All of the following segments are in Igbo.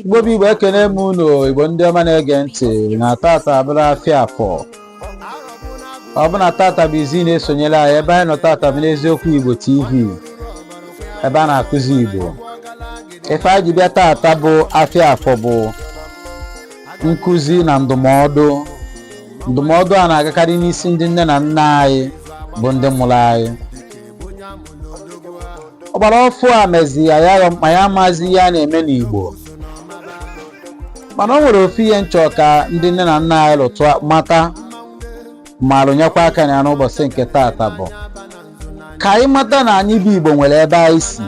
Igbo bụ Igbo ekene m unu Igbo ndị ọma na-ege ntị na tata abụrụ afịa afọ ọ bụ na tata bụ izizi ị na-esonyere anyị ebe anyị nọ tata bụ n'eziokwu Igbo TV ebe a na-akụzi Igbo ife anyị ji bịa tata bụ afịa afọ bụ nkụzi na ndụmọdụ ndụmọdụ a na-agakarị n'isi ndị nne na nna anyị bụ ndị mụrụ anyị ọgbara ọfụ a mezi ya ma ya amazi ihe a na-eme n'Igbo mana o nwere ofu ihe m chọ ka ndị nne na nna anyị lụtụ mata ma rụnyekwa aka na ya n'ụbọsị nke taata bụ ka anyị mata na anyị bụ Igbo nwere ebe anyị si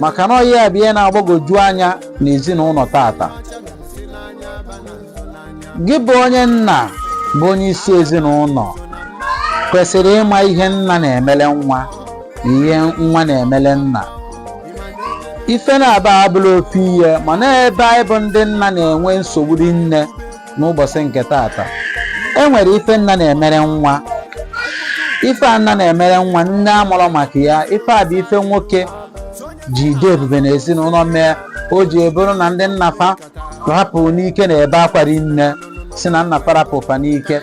maka na ọ ihe a bụ ihe na-agbagwoju anya n'ezinụnọ tata gị bụ onye nna bụ onye isi ezinụnọ kwesịrị ịma ihe nna na-emele nwa na ihe nwa na-emele nna ife naabọ a abụrọ ofu ihe mana ebe anyị bụ ndị nna na-enwe nsogbu rinne n'ụbọsị nke tata e nwere ife nna na-emere nwa ife a nna na-emere nwa nne amarọ maka ya ife a bụ ife nwoke ji dị ebube n'ezinụnọ mee o ji abụrụ na ndị nna fa rapụ n'ike na-ebe akwa rinne sị na nna fa rapụ fa n'ike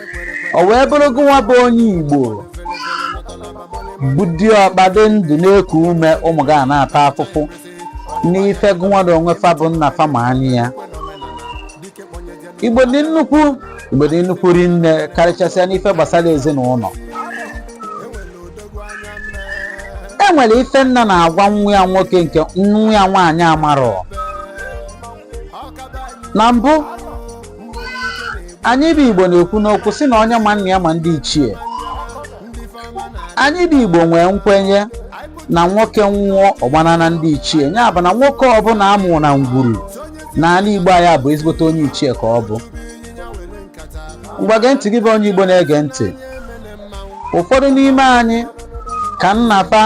o wee bụrụ gụnwa bụ onye igbo bụ diọkpa dị ndụ na-eku ume ụmụ gị a na-ata afụfụ n'ife gụnwa na onwe fa bụ nna fa ma anyị ya igbo dị nnukwu igbo dị nnukwu rinne karịchasịa n'ife gbasara ezinụnọ e nwere ife nna na-agwa nwa ya nwoke nke nwa ya nwaanyị amarọ na mbụ anyị bụ igbo na-ekwu n'okwu sị na onye ma nna ya ma ndị ichie anyị bụ igbo nwee nkwenye na nwoke nwụọ ọ gbana na ndị ichie ya bụ na nwoke ọbụla a mụ na ngwuru na ala igbo anyị bụ ezigbote onye ichie ka ọ bụ ngwa gee ntị gị bụ onye igbo na-ege ntị ụfọdụ n'ime anyị ka nna fa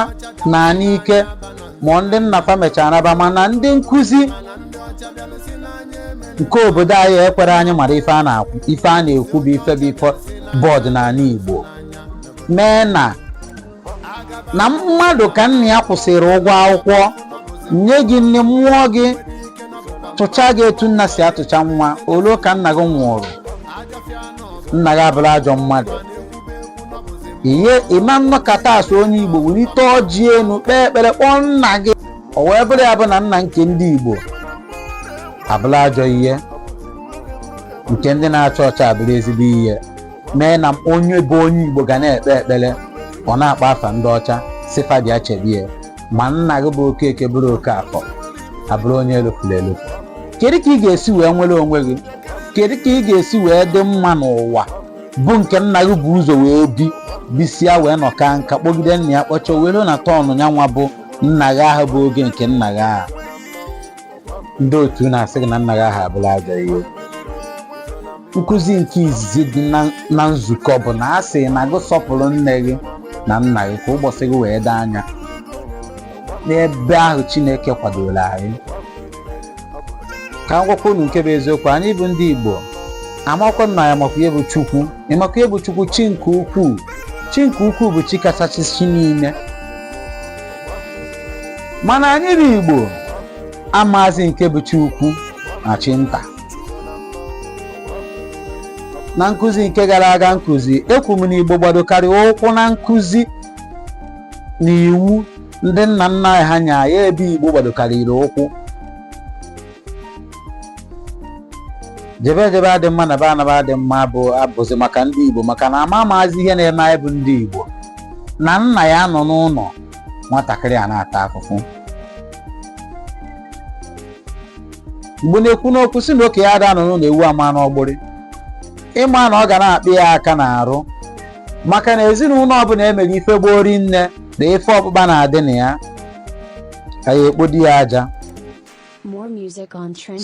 na n'ike ma ndị nna fa mechara naba mana ndị nkụzi nke obodo anyị ekwerọ anyị mara ife a na-ekwu bụ ife bụ ọdịnanị Igbo mee na na mmadụ ka nna ya kwụsịrị ụgwọ akwụkwọ nye gị nni mụọ gị tụcha gị etu nna si atụcha nwa o lu ka nna gị nwụrụ nna gị abụrụ ajọ mmadụ ihe ị ma nọkata a sị onye igbo welite ọjị enu kpee ekpere kpọọ nna gị o wee bụrụ ya bụ na nna nke ndị igbo abụrụ ajọ ihe nke ndị na-acha ọcha abụrụ ezigbo ihe mee na onye bụ onye igbo ga na-ekpe ekpere ọ na-akpọ afa ndị ọcha sị fa bịa chebe ya ma nna gị bụ okeke bụrụ okeafọ abụrụ onye elofuru elofu kedu ka ị ga-esi wee nwere onwe gị kedu ka ị ga-esi wee dị mma n'ụwa bụ nke nna gị bu ụzọ wee bi bisịa wee nọkaa nka kpọgide nna ya kpọchọ were na tọnụ ya nwa bụ nna gị ahụ bụ oge nke nna gị ahụ ndị otu na-asị gị na nna gị ahụ abụla ajọ ihe nkụzi nke izizi dị na- na nzukọ bụ na a sị na gị sọpụrụ nne gị na nna gị ka ụbọchị gị wee dị anya n'ebe ahụ chineke kwadoro anyị ka m gwakwa unu nke bụ eziokwu anyị bụ ndị igbo amakwa na anyị makwa ihe bụ chukwu ịmakwa ihe bụ chukwu chi nke ukwuu chi nke ukwuu bụ chi kachasị chi niile mana anyị bụ igbo amazi nke bụ chi ukwu na chi nta na nkụzi nke gara aga nkụzi ekwu m na igbo gbadokarịrị ụkwụ na nkụzi na iwu ndị nna nna ha nya ya ebe igbo gbadokarịrị ụkwụ jebe ejebe adị mma naba anaba adị mma bụ abụzi maka ndị igbo maka na ama amazi ihe na-eme anyị bụ ndị igbo na nna ya anọ n'ụlọ nwatakịrị a na-ata afụfụ igbo na-ekwu n'okwu sị na okenye ada anọ n'ụlọ ewu amụa n'ọgbụrị ịma na ọ ga na-akpị ya aka n'arụ maka na ezinụlọ ọbụla emere ife gbori nne na ife ọkpụkpa na-adị na ya ka ya ekpodi ya aja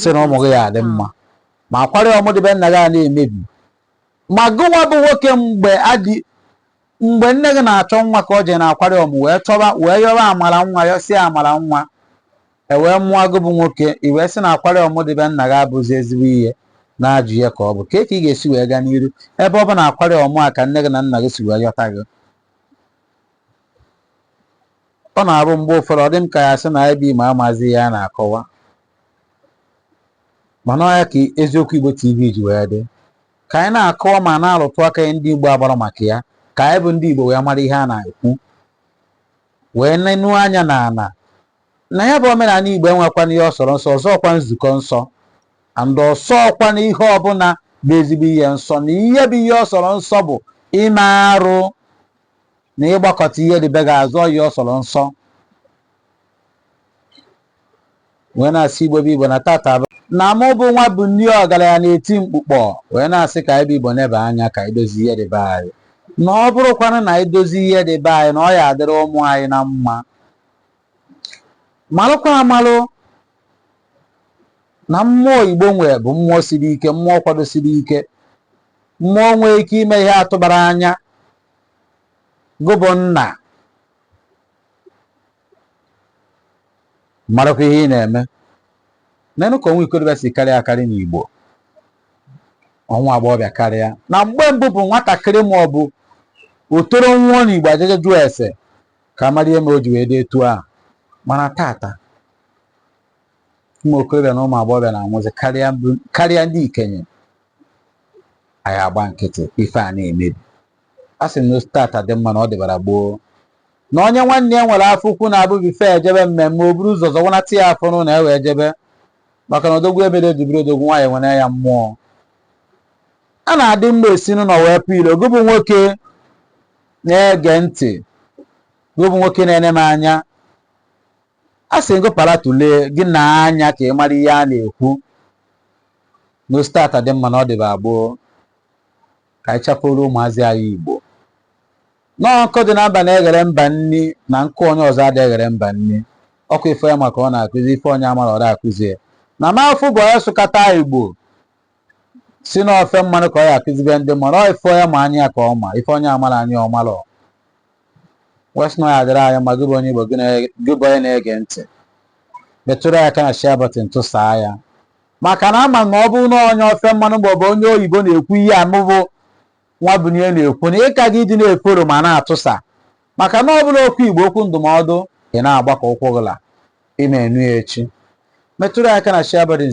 sị na ụmụ gị ya adị mma ma akwari ọmụ dị be nna gị a na-emebi ma gụnwa bụ nwoke mgbe adị mgbe nne gị na-achọ nwa ka ọ jee na akwari ọmụ wee yọba amara nwa yọsịa amara nwa e wee mụọ gị bụ nwoke i wee sị na akwari ọmụ dị be nna gị abụzi ezigbo ihe na ajọ ihe ka ọ bụ kee ka ị ga-esi wee gaa n'iru ebe ọ bụ na akwari ọmụ a ka nne gị na nna gị si wee yọta gị ọ na-abụ mgbe ụfọdụ ọ dị m ka a ya-asị na anyị bụ igbo amazi ihe a na-akọwa mana ọ ya ka eziokwu Igbo TV ji wee dị ka anyị na-akọwa ma na-arụtụ aka ihe ndị Igbo agbara maka ya ka anyị bụ ndị Igbo wee mara ihe a na-ekwu wee nenu anya n'ala na ya bụ omenala Igbo enwekwana ihe ọ sọrọ nsọ ọ sọọkwa nzukọ nsọ and ọ sọọkwa na ihe ọbụla bụ ezigbo ihe nsọ na ihe bụ ihe ọ sọrọ nsọ bụ ime arụ na ịgbakụta ihe dị be gị azụ ihe ọ sọrọ nsọ wee na-asị igbo bụ igbo na tata bụ na mụ bụ nwa bụ nri ọgaranya na-eti mkpukpọ wee na-asị ka anyị bụ igbo nebe anya ka anyị dozie ihe dị be anyị na ọ bụrụkwanụ na anyị dozie ihe dị be anyị na ọ ya-adịrị ụmụ anyị na mma malụkwa amalụ na mmụọ igbo nwee bụ mmụọ siri ike mmụọ kwadosiri ike mmụọ nwee ike ime ihe a tụbara anya gị bụ nna marakwa ihe ị na-eme nenụ ka ọnwụ ikorobịa si karịa akarị n'Igbo ọnwụ agbọghọbịa karịa na mgbe mbụ bụ nwatakịrị ma ọ bụ okoro nwụọ n'Igbo a ja-eje jụọ ese ka a mara ihe mere o ji wee dị etu a mana tata ụmụ okorobịa na ụmụ agbọghọbịa na-anwụzi karịa ndị ikenye anyị agba nkịtị ife a na-emebi a sị na tata dị mma na ọ dịbara gboo na onye nwanne ya nwere afọ ukwu na-abụ before e jebe mmemme o buru ụzọ zọwanata ya afọ n'ụlọ e wee jebe maka na odogwu ebere dubiri odogwu nwaanyị nwere ya mmụọ a na-adị mma e si n'ụlọ wee pụ ilo gị bụ nwoke na-ege ntị gị bụ nwoke na-ene m anya a sị gị para tụlee gị na anya ka ị mara ihe a na-ekwu na o si tata dị mma na ọ dịbara gboo ka anyị chapụrụ ụmụazị anyị igbo na nkụ dị na mba na-eghere mba nri na nkụ onye ọzọ adị eghere mba nri ọ bụ ife onye ma ka ọ na-akụzi ife onye amarọ ọ na-akụzi ya na m afụbu onye sụkata igbo sị na ofe mmanụ ka ọ ya-akụzibe ndị mmadụ ọ ife onye ma anya ya ka ọ ma ife onye amarọ anya ọ mara wee sị na ọ ya-adịrị anyị mma gị bụ onye igbo gị na- gị bụ onye na-ege ntị metụrụ ya aka na share button tụsaa ya maka na ama m na ọ bụrụ na onye ofe mmanụ maọbụ onye oyibo na-ekwu ihe a mụ bụ Nwabunye na-ekwu na ị ka ga ịdị na-efollow ma na-atụsa maka na ọ bụrụ okwu Igbo okwu ndụmọdụ ị na-agba ka ụkwụ gị la. Ị na-enu ya echi. Metụrụ ya aka na share button.